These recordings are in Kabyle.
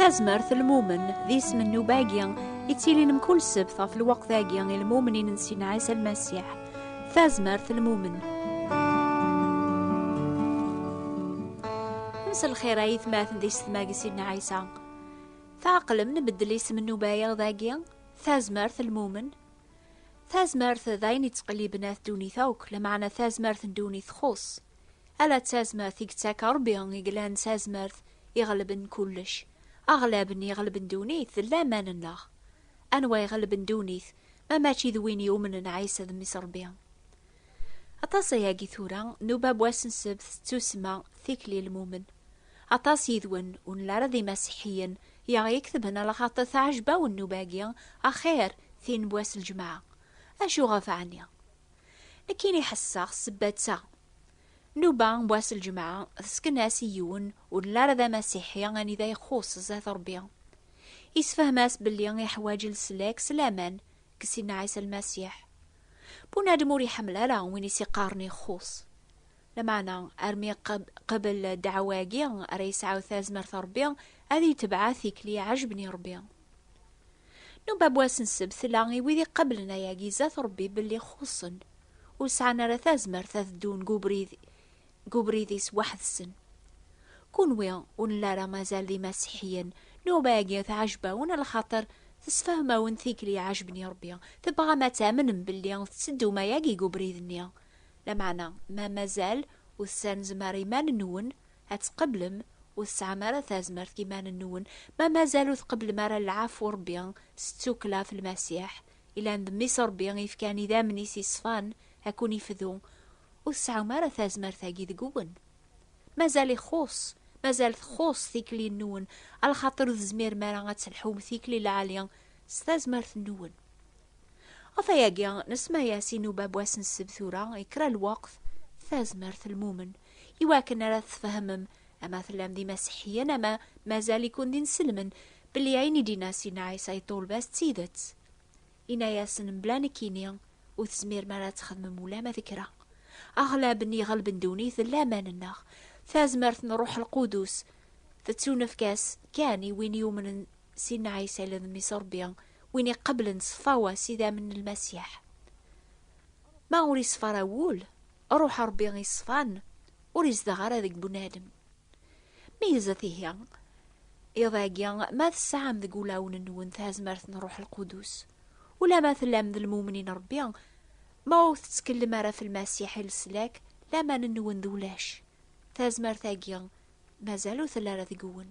tazmert lmumen d isem n nubagi i ttilin mkul sebt ɣef lweqt-agi i lmumnin n Sina Ɛisa Lmasiḥ tazmert lmumen mselxir ay tmaten di setmag Sina Ɛisa Tɛeqlem nbeddel isem n ubayaɣ dagi? Tazmert lmumen? Tazmert d ayen yettqelliben at ddunit akk, lameɛna tazmert n ddunit txuṣṣ. Ala d tazmert i yettakka Rebbi i yellan d tazmert iɣelben kullec. Aɣlab n iɣelben ddunit d laman-nneɣ. Anwa iɣelben ddunit ma mačči d win yumnen Ɛisa d Mmi-s Rebbi? Aṭas ayagi tura, nuba wass n ssebt d tussma, tikli lmumen. Aṭas yid-wen, ur nelli ara d imasiḥiyen, yaɣ-iktben a lxaṭi teɛjeb-awen nnuba-agi, axir tin n wass lǧemɛa. Acu ɣef ɛni? Nekkini ḥesseɣ ssebba d ta. Nnuba n wass lǧemɛa tesken-as i yiwen ur nelli ara d amasiḥi anida ixuṣṣ zdat Rebbi. Yessefhem-as belli iḥwaǧ leslak s laman deg Sidna Ɛisa Lmasiḥ. Bunadem ur iḥemmel ara win i s-iqqaren ixxus. Lameɛna, armi qabel ddeɛwa-agi ara yesɛu tazmert n Rebbi, ad yetbeɛ tikli iɛejben i Rebbi. Nubab wass n ssebt tella i wid iqablen ayagi zdat Rebbi belli xuṣṣen, ur sɛan ara tazmert ad ddun deg ubrid deg ubrid-is weḥd-sen. Kunwi ur nla ara mazal d imasiḥiyen, nnuba-agi tɛejb-awen lxaṭer, tessefhem-awen tikli ɛejben i Rebbi, tebɣam ad tamnem belli tetteddum ayagi deg ubrid-nni. Lameɛna, ma mazal ur tessarenzem ara iman-nwen ad tqeblem, ur tesɛam ara tazmert deg yiman-nwen, ma mazal ur tqeblem ara lɛafu n Rebbi s tsukkla f Lmasiḥ, yellan d Mmi-s n Rebbi i yefkan idammen-is yeṣfan ad ken-ifdu, Ur tesɛum ara tazmert-agi deg-wen. Mazal ixuṣ, mazal txuṣ tikli-nwen, a lxaṭer ur tezmirem ara ad telḥum tikli lɛali s tazmert-nwen. Ɣef wayagi, nesma-yas inuba n wass n ssebt tura i kra lweqt, Tazmert Lmumen, i wakken ara tfehmem ama tellam d imaseḥiyen ama mazal-iken d inselmen belli ayen i d-inna Sidna Ɛisa i ṭṭulba-s d tidet. Inna-yasen, Mebla nekkini, ur tezmirem ara ad txedmem ulamma d kra. Aɣlab n yiɣelben ddunit d laman-nneɣ. Tazmert n Ṛuḥ Lqudus tettunefk-as kan i win yumnen s Inna Ɛisa d Mmi-s Ṛebbi, win iqeblen s tfawa s idammen n Lmasiḥ. Ma ur iṣfa ara wul, Ṛuḥ Ṛebbi iṣfan ur izdeɣ ara deg bunadem. Meyyzet ihi iḍ-agi ma tesɛam deg ulawen-nwen tazmert n Ṛuḥ Lqudus, ulamma tellam d lmumnin n Ṛebbi, ma ur tettkellem ara f Lmasiḥ i leslak, laman-nwen d ulac. Tazmert-agi mazal ur telli ara deg-wen.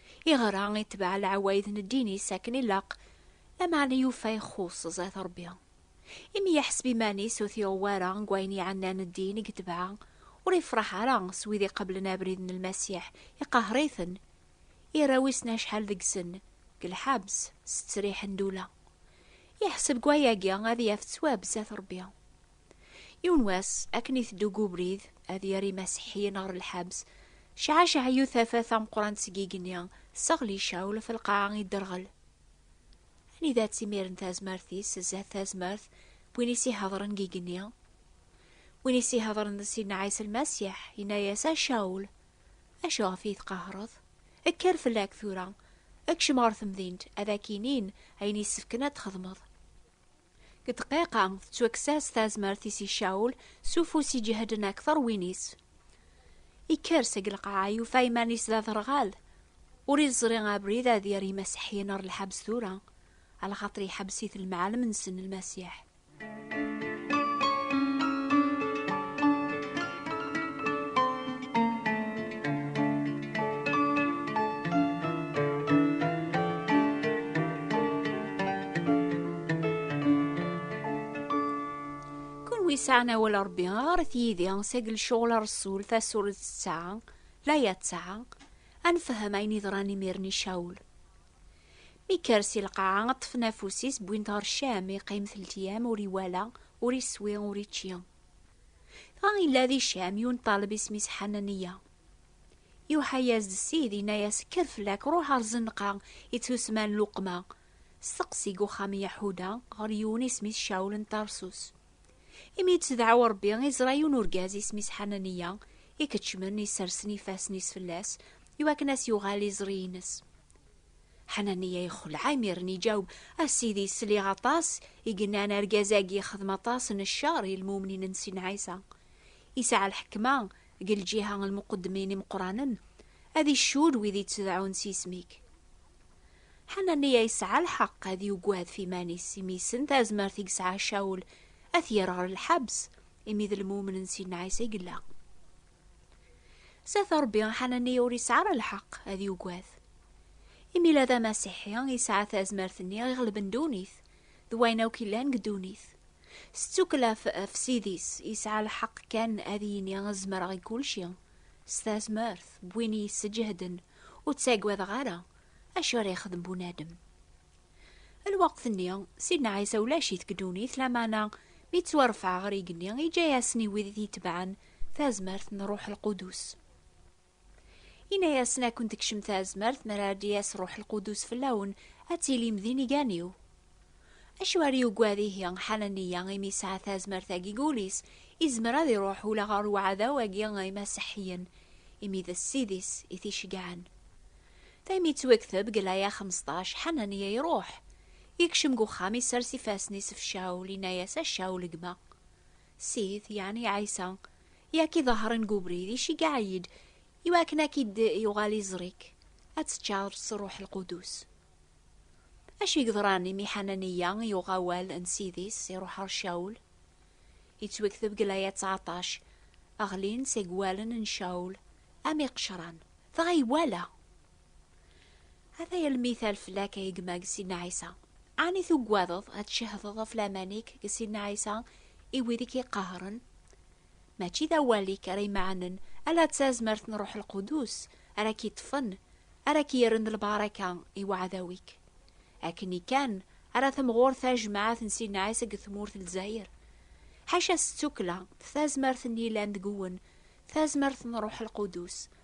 Iɣra itbeɛ leɛwayed n ddin-is akken ilaq, lameɛna yufa ixuṣṣ zdat Rebbi. Imi yeḥseb iman-is ur t-iɣeww ara deg wayen iɛennan ddin i yetbeɛ, ur ifṛeḥ ara s wid iqeblen abrid n Lmasiḥ, iqehher-iten. Irra wissen acḥal deg-sen deg lḥebs s ttriḥ n ddula. Yeḥseb deg wayagi ad yaf ttwab zdat Rebbi. Yiwen wass, akken iteddu deg ubrid, ad yerr imaseḥḥiyen ɣer lḥebs, cɛacɛeyu tafat tameqqrant seg igenni, tesseɣli Cawl ɣef lqaɛa idderɣel. Anida-tt imiren tazmert-is zdat tazmert n win i s-ihedren deg igenni? Win i s-ihedren d Sidna Ɛisa Lmasiḥ, yenna-yas, A Cawl! Acu ɣef iyi-tqehhreḍ? Kker fell-ak tura! Kcem ɣer temdint, ad ak-inin ayen yessefken ad t-txedmeḍ. Deg ddqiqa, tettwakkes-as tazmert-is i Caul, s ufus iǧehden akteṛ win-is. Ikker seg lqaɛa, yufa iman-is d aderɣal. Ur iẓri abrid ad yerr imasiḥiyen ɣer lḥebs tura, alxaṭer iḥebbes-it lemɛalem-nsen Lmasiḥ. yesɛan awal Ṛebbi ɣaret yid-i sagel cɣel Ṛsul tasuret tesɛa laya tesɛa ad nefhem ayen yeḍran imir-nni Cawul. Mi yekker si lqaɛa ṭṭfen afus-is wwin-t ɣer Cam, yeqqim telt ur iwala, ur iswi, ur ičči. Dɣa illa di Cam yun ṭaleb isem-is Ḥananiya. Yuḥa-yas-d Ssid, inna-yas, Kker fell-ak, ruḥ ar Zenqa, i tt-usman Luqma, steqsi deg uxxam n Yaḥuda ɣer yiwen isem-is Cawul n Tarsus. Imi yettdeɛɛu Ṛebbi, iẓra yiwen urgaz isem-is Ḥananiya, ikeččmen, issersen ifassen-is fell-as, iwakken ad as-yuɣal iẓri-ines. Ḥananiya ixelɛa imiren iǧaweb, A Sidi, sliɣ aṭas i yennan argaz-agi yexdem aṭas n ccer i lmumnin n Sidna Ɛisa. Yesɛa lḥekma deg lǧiha n lmuqeddmin imeqqranen, ad icudd wid yettedɛun s yisem-ik. Ḥananiya yesɛa lḥeqq ad yugad ɣef iman-is, imi yessen tazmert i yesɛa Cawul ad t-yerr ɣer lḥebs, imi d lmumen n Sidna Ɛisa i yella. S at Ṛebbi, Ḥananiya ur yesɛi ara lḥeqq ad yugad. Imi la d amasiḥi, yesɛa tazmert-nni iɣelben ddunit d wayen akk yellan deg ddunit. S ttukkla ɣef Ssid-is, yesɛa lḥeqq kan ad yini zemreɣ i kulci. S tazmert n win yesǧehden, ur ttaggadeɣ ara acu ara yexdem bunadem. Lweqt-nni, Sidna Ɛisa ulac-it deg ddunit, lameɛna mi yettwarfeɛ ɣer yigenni, yeǧǧa-yasen i wid i t-itebɛen Tazmert n Ruḥ Lqudus. Ini-asen ad kent-tekcem tazmert mi ara d-yas Ruḥ Lqudus fell-awen, ad tilim d inigan-iw. Acu ara yugad ihi Ḥananiya imi yesɛa tazmert-agi deg wul-is, izmer ad iruḥ ula ɣer uɛdaw-agi n Imaseḥiyen, imi d ssid-is i t-iceggɛen. Daymi yettwekteb deg laya xmesṭac, Ḥananiya iruḥ, yekcem deg uxxam, isers ifassen-is ɣef Cawul, inna-yas, A Cawul, gma! Sid, yeɛni Ɛisa, i ak-iḍehṛen deg ubrid, iceggeɛ-iyi-d, i wakken ad k-id-yuɣal iẓri-k, ad teččaṛeḍ s Ṛṛuḥ Lqudus. Acu i yeḍṛan imi Ḥananiya yuɣ awal n Sid-is, iṛuḥ ɣer Cawul? Yettwekteb deg laya ttɛeṭṭac, Ɣlin seg wallen n Cawul am iqecṛan. Dɣa iwala! Ata yal mital fell-ak ay gma deg Sidna Ɛisa. Ɛni tugadeḍ ad tcehdeḍ ɣef laman-ik deg Sidna Ɛisa i wid i k-iqehren? Mačči d awal-ik ara imeɛnen, ala d tazmert n Ṛuḥ Lqudus ara k-iṭṭfen, ara k-yerren d lbaraka i uɛdaw-ik. Akken kan ara temɣur tajmaɛt n Sidna Ɛisa deg tmurt n Lezzayer, ḥaca s ttukkla d tazmert n yilan deg-wen, tazmert n Ṛuḥ Lqudus,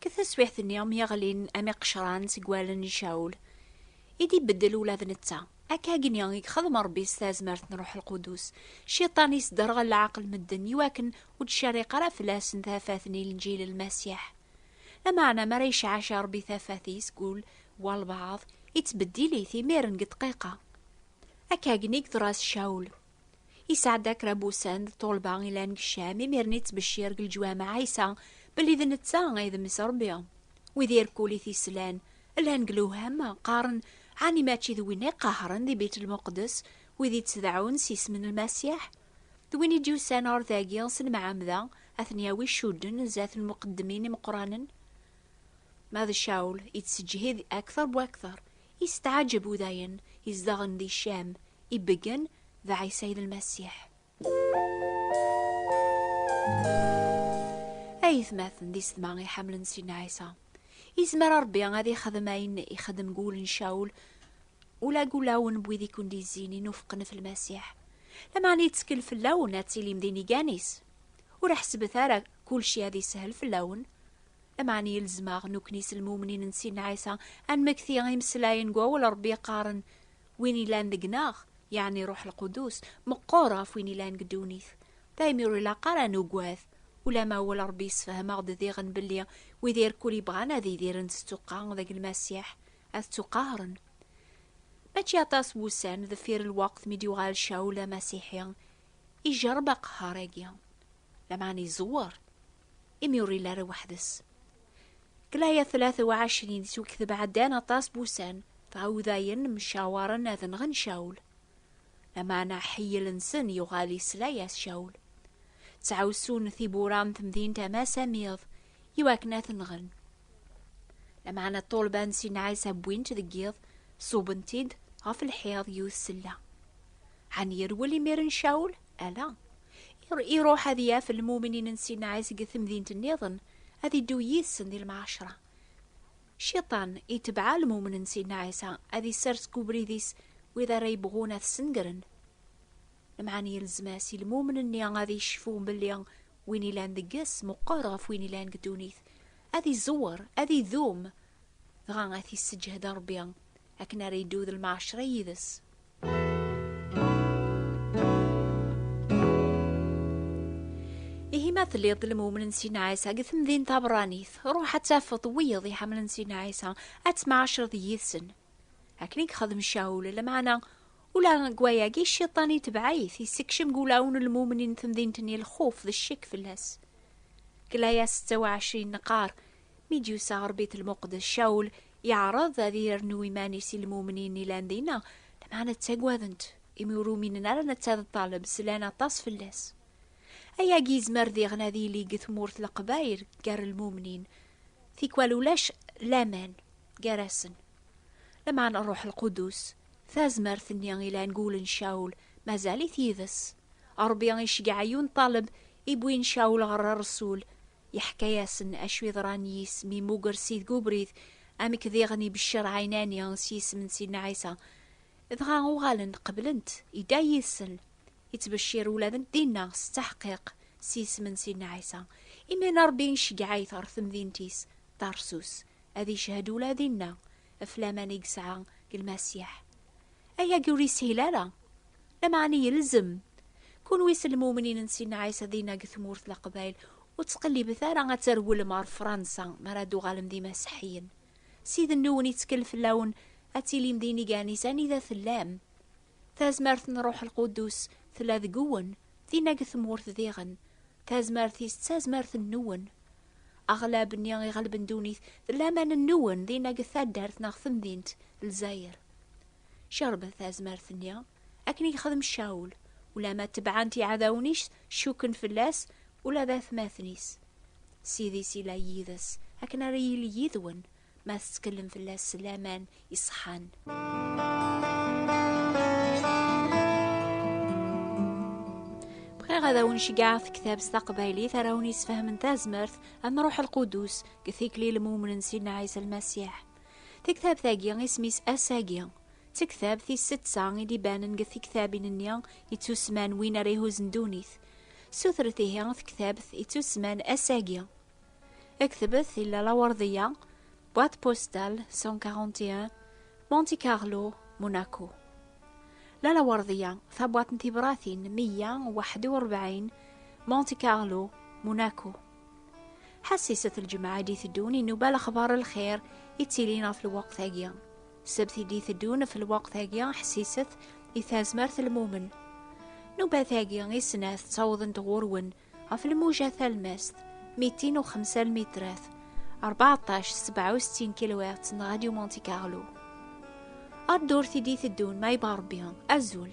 Ke taswiɛt-nni mi ɣlin am iqecran seg wallen n Caul, i d-ibeddel ula d netta. Akkagi i ixdem Rebbi s tazmert n Ṛuḥ Lqudus. Cciṭan isderɣel leɛqel medden i wakken ur d-tcerriq ara fell-asen tafat n Ilenǧil n Masiḥ. Lameɛna mi ara yecɛac Ṛebbi tafat-is deg ul n walbeɛḍ, ittbeddil-it imiren deg ddqiqa. Akkagi i yeḍra s Caul. Yesɛedda kra n wussan d ṭṭulba i llan deg Ccam, imiren yettbeccir deg leǧwameɛ Ɛisa belli d netta ay d Mmi-s Rebbi. Wid irkul i t-yeslan, llan deg lewham, qqaren, Ɛni mačči d winna i qehhren di Bit Lmuqeddes wid i tt-deɛɛun s isem n Lmasiḥ? D win i d-yusan ɣer dagi s lemɛamda, ad ten-yawi ccudden zdat n lmuqeddmin imeqqranen? Ma d Caul, yettseǧhid akter bu akter, Yesteɛjeb u dayen izdeɣen di Cam ibeggen d Ɛisa il Lmasiḥ. A yetmaten d isedma iḥamlen Sidna Ɛisa, izmer a Rebbi ad ixdem ayen ixdem deg wul n Cawul ula deg ulawen n wid i ken-d-izzin inufqen ɣef Lmasiḥ. Lameɛna yettkel fell-awen ad tilim d inigan-is. Ur ḥesbet ara kulci ad isehel fell-awen. Ameɛni ilzem-aɣ nukni s lmumnin n Sidna Ɛisa ad nmekti imeslayen n wawal n Rebbi yeqqaren, Win yellan deg-neɣ, yeɛni Ṛuḥ Lqudus, meqqer ɣef win yellan deg ddunit. Daymi ur ilaq ara ad nugad, ulamma awal n Ṛebbi yessefhem-aɣ-d diɣen belli wid irkul yebɣan ad idiren s ttuqqa deg Lmasiḥ, ad ttuqahren. Mačči aṭas n wussan deffir lweqt mi d-yuɣal Cawul d amasiḥi, ijerreb aqehher-agi. lameɛna izewwer imi ur yelli ara weḥd-s. Deg laya 23 yettwekteb ɛeddan aṭas n wussan, dɣa Udayen mcawaren ad nɣen Cawl. Lameɛna aḥeyyel-nsen yuɣal yesla-as Cawl. Ttɛussun tiwwura n temdint am ass am iḍ iwakken ad t-nɣen. Lameɛna ṭṭulba n Sidna Ɛisa wwin-tt deg yiḍ, ṣubben-t-id ɣef lḥiḍ yiwet sella. Ɛni yerwel imiren Cawl? Ala. iruḥ ad yaf lmuminin n Sina Ɛis deg temdint nniḍen, ad iddu yid-sen di lmɛacra. Ciṭan itebɛa lmumen n Sina Ɛisa, ad isers deg ubrid-is wid ara yebɣun ad t-snegren. Lemɛan yelzem-as i lmumen-nni ad icfu belli win ilan deg-s meqqer ɣef win ilan deg ddunit, ad iẓewwer, ad idum, dɣa ad t-isseǧhed Rebbi akken ara iddu d lmɛacra yid-s. Ihi ma telliḍ d lmumen n Sina Ɛisa deg temdint tabṛanit, ruḥ ad tafeḍ wiyeḍ iḥemmlen Sina Ɛisa, ad temɛacereḍ yid-sen. Akken i yexdem Cawul, lmeɛna ula deg wayagi Cciṭan itebɛ-it, yessekcem deg wulawen n lmumnin n temdint-nni lxuf d ccek fell-as. Deg layas settaw ɛecrin neqqar, Mi d-yusa ɣer Bit Lmuqdes, Cawl yeɛreḍ ad yernu iman-is i lmumnin ilan dinna, lameɛna ttagaden-t, imi ur uminen ara netta d ṭṭaleb, slan aṭas fell-as. Ayagi yezmer diɣen ad yili deg tmurt leqbayel gar lmumnin, tikwal ulac laman gar-asen. Lameɛna Rruḥ Lqudus, tazmert-nni ilan deg wul n Cawl, mazal-it yid-s. Ṛebbi iceggeɛ yiwen ṭṭaleb, iwwin Cawl ɣer Ṛṛsul, Yeḥka-yasen acu yeḍran i yisem yemmuger s ideg ubrid, amek diɣen ibeccer ɛinani s yisem n Sidna Ɛisa. Dɣa uɣalen qeblen-t, yedda yid-sen, yettbecir ula d dinna s ttaḥqiq s yisem n Sidna Ɛisa. Imiren Ṛebbi iceggeɛ-it ɣer temdint-is Tarsus, ad icehhed ula dinna ɣef laman i yesɛa deg Lmasiḥ. Ayagi ur yeshil ara, lameɛna yelzem. Kunwi s lmumnin n Sidna Ɛisa dinna deg tmurt Leqbayel, ur ttqellibet ara ad terwlem ɣer Fransa mi ara d-tuɣalem d imaseḥiyen. S idenniwen yettkel fell-awen ad tilim d iniganiz anida tellam. Tazmert n Ṛṛuḥ Lquddus tella deg-wen. Tinna deg tmurt diɣen, tazmert-is d tazmert-nwen. Aɣlab-nni iɣelben ddunit d laman-nwen dinna deg taddart neɣ temdint Lezzayer. Cerbet tazmert-nni, akken i yexdem Cawul, ulamma tebɛen-t iɛdawen-is, cukken fell-as, ula d atmaten-is. Ssid-is yella yid-s, akken ara yili yid-wen, ma tettkellem fell-as s laman iṣeḥḥan. bɣiɣ ad awen-ceggɛeɣ tektabt taqbaylit ara awen-yesfehmen tazmert am ruḥ lqudus deg tikli lmumnen sidna ɛisa lmasiḥ tektabt-agi isem-is asagi d tektabt tis setta i d-ibanen deg tektabin-nni yettusman win ara ihuzzen ddunit sutret ihi tektabt yettusman asagi Ektebet di lawarḍiyya, boîte postale 141, Monte Carlo, Monaco. Lalawarḍiyya, tabwaṭ n tibratin 141, Monte Carlo, Monaco. Ḥassiset lǧemɛa i d-iteddun inuba lexbar lxir i ttilin ɣef lweqt-agi. Sebt i d-iteddun ɣef lweqt-agi ḥessiset i tazmert lmumen. Nubat-agi i snat ttawḍent ɣur-wen Ɣef lmuja talmast, mitin u xemsa lmitrat, 14 67 kilowert n Radio Monte Carlo. Ar ddurt i d-iteddun ma yebɣa Rebbi, azul!